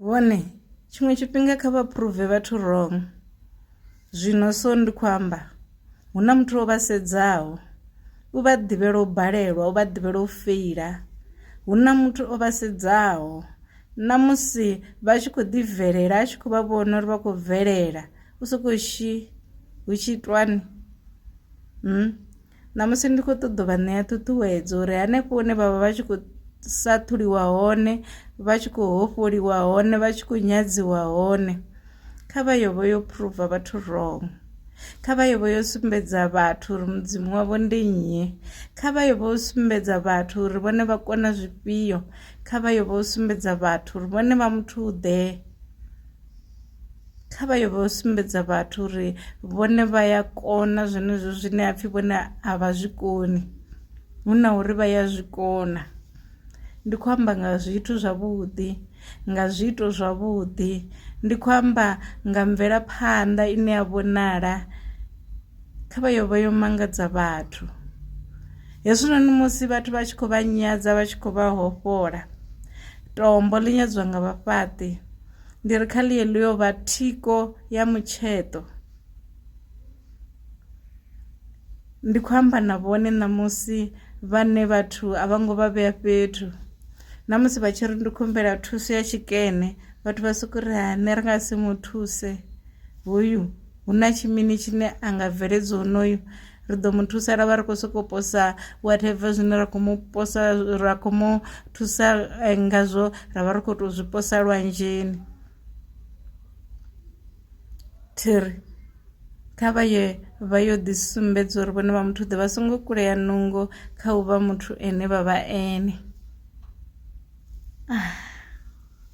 Vhone, tshiṅwe tshifhinga kha vha phuruve vhathu wrong. Zwino so ndi khou amba hu na muthu o vha sedzaho u vha ḓivhela u balelwa u vha ḓivhela u feila hu na muthu o vha sedzaho na musi vha tshi khou ḓi bvelela a tshi khou vha vhona uri vha khou bvelela u sokou shi hu tshi itwani hmm? ṋamusi ndi khou ṱoḓa vha ṋea ṱhuṱhuwedzo uri hanefho hune vhavha vha tshi khou sa thuliwa hone vha tshi khou hofholiwa hone vha tshi khou nyadziwa hone kha vha yo vho yo phuruva vhathu wrong kha vha yo vho yo sumbedza vhathu uri mudzimu wavho ndi nnyi kha vha yo vho sumbedza vhathu uri vhone vha kona zwifhio kha vha yo vho sumbedza vhathu uri vhone vha muthu ḓe kha vha yo vha sumbedza vhathu uri vhone vha ya kona zwenezwo zwine ha pfhi vhone a vha zwi koni hu na uri vha ya zwi kona ndi khou amba nga zwithu zwavhuḓi nga zwiito zwavhuḓi ndi khou amba nga mvelaphanḓa ine ya vhonala kha vha yo vha yo mangadza vhathu hezwinoni musi vhathu vha tshi khou vha nyadza vha tshi khou vha hofhola tombo ḽi nyadzwa nga vhafhaṱi Ndi ri kha ḽiye ḽi yo vha thiko ya mutsheṱo. Ndi khou amba na vhone ṋamusi vhane vhathu a vha ngo vha vhea fhethu na musi vha tshi ri ndi khumbela thuso ya tshikene vhathu vha soko ri ha nṋe ri nga si mu thuse hoyu hu na tshimini tshine a nga bveledza honoyu ri ḓo mu thusa ra vha ri khou sokou posa whatever zwine ra khou mu posa ra khou mu thusa eh, ngazwo ra vha ri khou tou zwi posa lwanzheni thiri kha vha ye vha yo ḓisumbedza uri vhone vha muthu ḓe vha songo kulea nungo kha u vha muthu ene vha vha ene ah.